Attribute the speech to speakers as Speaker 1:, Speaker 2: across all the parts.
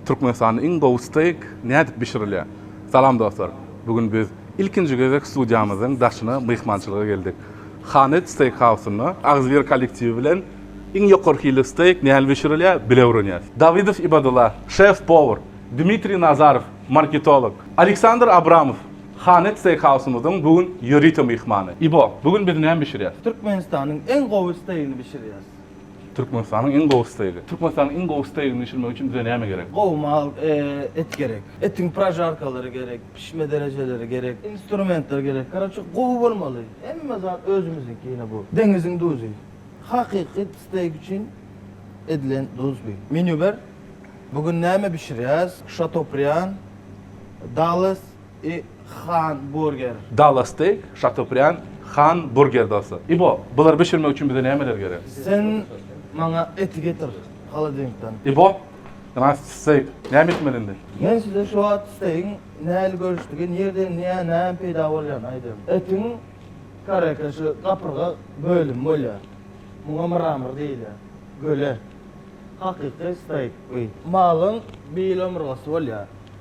Speaker 1: Türkmenistanda iň gowy steýk nädip bişirilýär? Salam dostlar! Bu gün biz ilkinji gezek studiýamyzyň daşyna myhmançylyga geldik. Hanet steýkhausynda Agzybir kollektiwi bilen iň ýokary hilli steýk näl bişirilýär, bile öwrenýäs. Dawidow Ibadullah, şef-powar, Dmitriý Nazarow, marketolog, Aleksandr Abramow, Hanet Steakhouse-myzyň bu gün ýörite myhmany. Ibo, bu gün biz näme bişirýäs? Türkmenistanyň iň
Speaker 2: gowy steigini bişirýäs. Türkmenistanyň
Speaker 1: iň gowy steigi. Türkmenistanyň iň gowy steigini bişirmek üçin bize näme gerek? Gowy mal
Speaker 2: et gerek. Etiň prožarkalary gerek, pişme derejeleri gerek, instrumentler gerek. Karoçe, gowy bolmaly. Hemme zat özümiziňki ýene bu. Deňiziň duzy. Hakyky steig üçin edilen duz bu. Menýu ber. Bu gün näme bişirýäs? Şatobrian, Dalles, I Han Burger. Dallas Steak,
Speaker 1: Şatobrian, Han Burger dostlar. İbo, bulary bişirmek üçin bize nämeler gerek? Sen
Speaker 2: maňa eti getir, holodilnikden. İbo,
Speaker 1: ynha steak. Näme etmeli indi? Men size şu wagt
Speaker 2: steakiň nähili görüşdigi, nirden nä, näme peýda bolýany aýdayyn. Etiň kareka şu gapyrga bölümi bolýar. Muňa mramor diýilýär. Göle. Hakyky steak bu. Malyň bil omurgasy bolýar.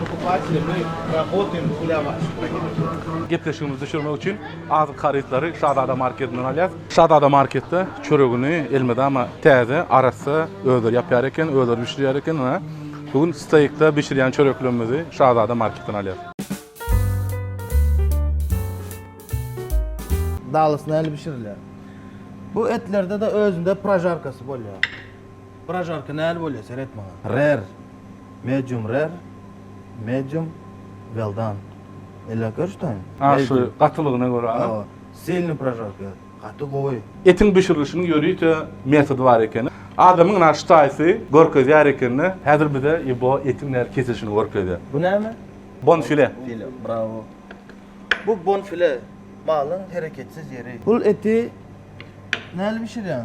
Speaker 3: Pokupateli my rabotaýym hulyaba şypba. Gepleşigimizi
Speaker 1: düşürmek üçin azyk harytlary Şazada marketinden alýas. Şazada marketde çöregini elmydama täze, arassa özleri ýapýar eken, özleri bişirýär eken. Ynha, bu gün steýkde bişirýän çöreklerimizi Şazada marketden alýas.
Speaker 2: Dalys nähili bişirilýär? Bu etlerde-de özünde prožarkasy bolýar. Prožarka näl bolýa seret maňa. Rare, medium rare, medium well done. Elläp görüşdäýiň. A şu gatylygyna
Speaker 1: görä. Hawa, sylny prožarka
Speaker 2: ýaly. Gaty gowy. Etiň bişirilişiniň
Speaker 1: ýörite metody bar ekeni. Adamyň na ştaýsy görkezýär ekende, häzir bize ibo etiň näl kesilişini görkezýär. Bu näme?
Speaker 2: Bonfile.
Speaker 1: File, bravo.
Speaker 2: Bu bonfile, malyň hereketsiz ýeri. Bul eti näl bişirýäň?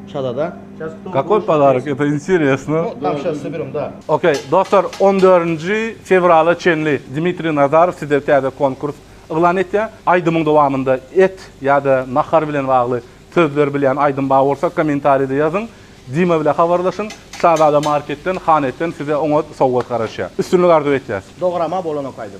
Speaker 3: Şazada. Kakoý podaryk, eto interesno.
Speaker 1: No tam şa Sibirm
Speaker 3: da. Okey dostlar
Speaker 1: on dördünji fewrala çenli Dmitriý Nazarow size täze konkurs yglan etýä. Aýdymyň dowamynda et ýa-da nahar bilen bagly sözler bilýän aýdym bar bolsa kommentaride ýazyň. Dima bile habarlaşyň. Şazada marketden, Hanetden size oňat sowgat garaşýa. Üstünlik arzuw etýäs.
Speaker 3: Dograma bolanok aýdym.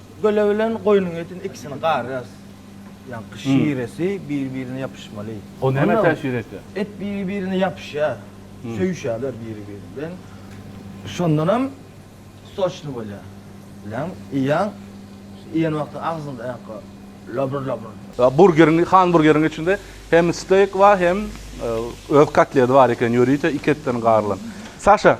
Speaker 2: Göle bilen goýnuň etini ikisini garýarys. Ýaňky şiresi biri-birine ýapyşmaly. O näme täsir
Speaker 1: etýär? Et biri-birine
Speaker 2: ýapyşýar. Söýüşýärler biri-biri bilen. Şondanam soçny bolýar. Bileň, iýýäň. Iýen wagtyň agzyňda ýaňky labr-labr. Burgeriň, han
Speaker 1: burgeriň içinde hem steýk bar, hem öz kotledi bar eken, ýörite iki etden garylan. Saşa.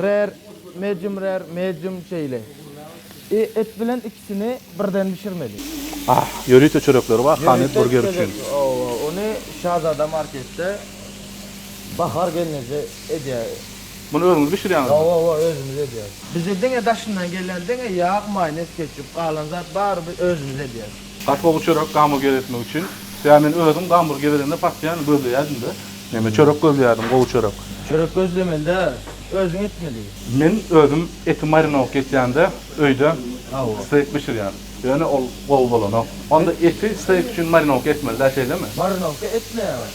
Speaker 2: Rer, medium rer, medium şeýle. I et bilen ikisini birden bişirmeli. Ah, ýörite
Speaker 1: çörekleri bar Hanet burger üçin. Hawa, ony
Speaker 2: Şazada marketde Bahar gelneje edýär. Muny özüňiz
Speaker 1: bişirýäňizmi? Hawa, hawa, özümiz edýäris.
Speaker 2: Bize diňe daşyndan gelen diňe ýag, maýonez, ketçup, galan zat baryny özümiz edýäris. Gatlawly çörek
Speaker 1: gamburger etmek üçin ýa men özüm gamburg gezelenine partiýany gözleýädimde neme çörek gözleýärdim gowy çörek. Çörek gözlemelde
Speaker 2: özüň etmeli. Men özüm
Speaker 1: eti marinowka etýände öýde steýk bişirýän. Ýöne ol gowy bolanok. Onda eti steýk üçin marinowka etmelidä şeýlemi? Marinowka etmeýäň.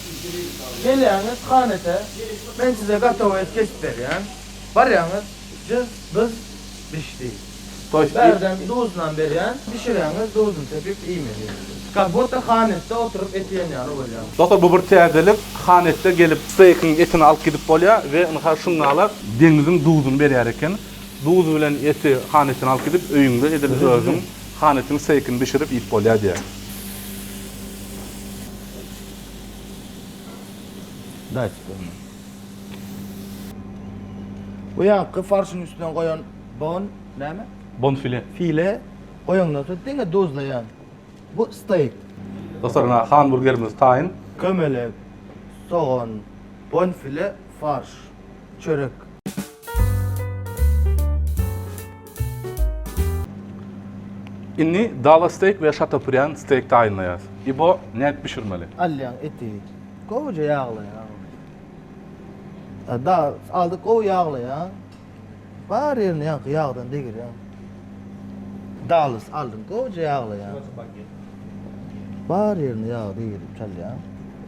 Speaker 2: Gelýäňiz hanete men size gatowy et kesip berýän. Barýaňyz jyz byz bişdi. Bärden duzunam berýän, bişirýäňiz duzun sepip iýmeli. Kak budda hanetde oturyp et iýen ýaly bolýa. Dostlar bu bir täzelik
Speaker 1: hanetde gelip steykiň etini alyp gidip bolýa we ynha şundala deňiziň duzuny berýär eken. Duz bilen eti hanetden alyp gidip öýüňde edil özüň hanetiň steykini bişirip iýip bolýa diýýär.
Speaker 2: Bu ýaňky farşyň üstüne goýan Bon näme? Bonfile. File goýandan soň diňe duzlaýan. Bu steýk. Dostlar ina
Speaker 1: hanburgerimiz taýyn. Kömelek,
Speaker 2: sogan, bonfile, farş, çörek.
Speaker 1: Indi dala steýk we şatobrian steýk taýynlaýarys. İbo, nädip bişirmeli? Alýaň eti.
Speaker 2: Gowuja ýaglaýaň. Aldyk gowy ýaglaýaň. Bar ýerini ýaňky ýagdan degirýän. Dalys aldym, gowja ýaglaýan. Bar ýerini ýag degirip çalýan.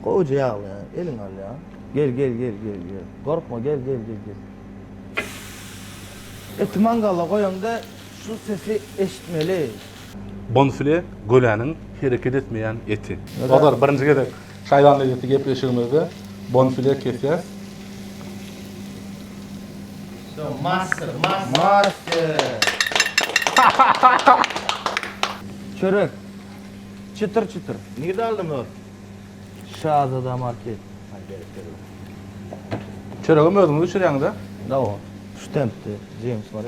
Speaker 2: Gowja ýaglaýan, eliňi alýan. Gel, gel, gel, gel, gel. Gorkma, gel, gel, gel, gel. Eti mangala goýaňda Şu sesi eşitmeli. Bonfile
Speaker 1: göläniň hereket etmeýän eti. Dostlar birinji gezek Şaýban lezzeti gepleşigimizde bonfile kesýäs. Wso
Speaker 2: master master. Master. Çörek. Çytyr çytyr. Nirde
Speaker 3: aldyň o? Şazada
Speaker 2: market.
Speaker 1: Çöregem özüňiz bişirýäňiz-a? Dawa.
Speaker 2: Şu tempde jemsmary.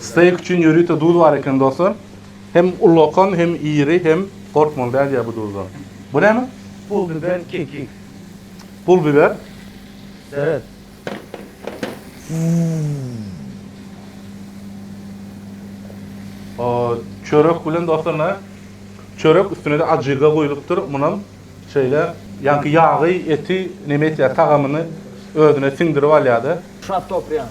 Speaker 3: Steýk üçin ýörite duz
Speaker 1: bar eken dostlar. Hem ullakan hem iri hem gorkmaly däl ýa bu duzdan. Bu näme? Pul biber
Speaker 2: kekik. Pul
Speaker 1: biber. Seret. Çörek bilen dostlar näme? Çörek üstüne-de ajyga guýlupdyr. Munam şeýle ýaňky ýagy, eti näme etýär, tagamyny özüne siňdirip alýar-da. Şatopryýan.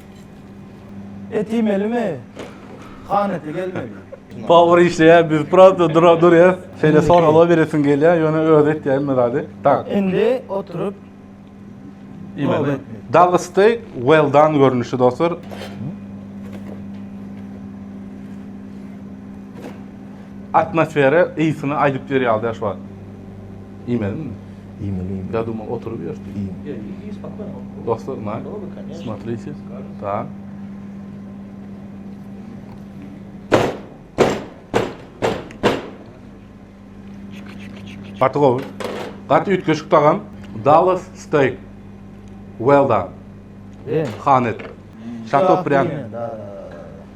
Speaker 2: Et iýmelimi? Han eti gelmeli. Power işleýär,
Speaker 1: biz prosta dura durýas. Şeýle soraglar beresim gelýär, ýöne özi etýär hemme zady. Tak. Indi oturyp iýmeli. Double steak well done görnüşi dostlar. Atmosfera ysyny aýdyp berýär ýaly şu wagt. Iýmelimi? Iýmeli,
Speaker 2: iýmeli. Ýa dymyp oturyp
Speaker 1: ýörüs, iýiň. Ýa, iý, iý,
Speaker 2: spokýono.
Speaker 3: Dostlar, na,
Speaker 1: smotrite,
Speaker 3: da.
Speaker 1: Gaty gowy. Gaty üýtgeşik tagam. Dallas steak. Well done. Han et. Şato prýan.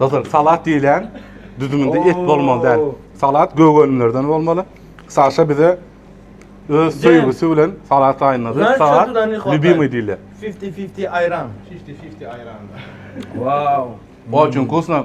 Speaker 1: Dostlar, salat diýilýän düzüminde et bolmaly däl. Salat gögönlerden bolmaly. Saşa bize öz söýgüsi bilen salat taýynlady. Salat
Speaker 2: lübimi
Speaker 1: diýilýär.
Speaker 2: 50-50
Speaker 1: aýran.
Speaker 3: 50-50 aýran.
Speaker 2: Wow. Oçun
Speaker 1: kusna.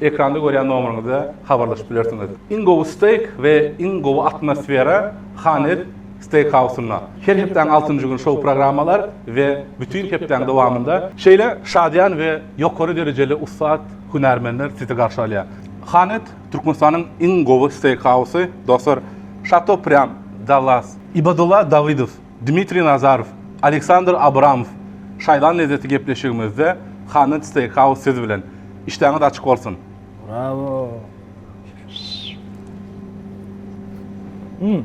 Speaker 1: Ekranda görýän nomeryňize habarlaşyp bilersiňiz. Iň gowy steýk we iň gowy atmosfera Hanes steýkhausynda. Her hepdäň altynjy güni şou programmalar we bütin hepdäň dowamynda şeýle şadyýan we ýokary derejeli ussat hünärmenler sizi garşy alýar. Hanes Türkmenistanyň iň gowy steýkhausy, dostlar, Şato Priam, Dallas. Ibadullah Dawidow. Dmitriý Nazarow, Aleksandr Abramow, Şaýlan lezzeti gepleşigimizde Haned Steakhouse siz bilen. Işdäňiz açyk bolsun! Brawo!
Speaker 2: Mmm.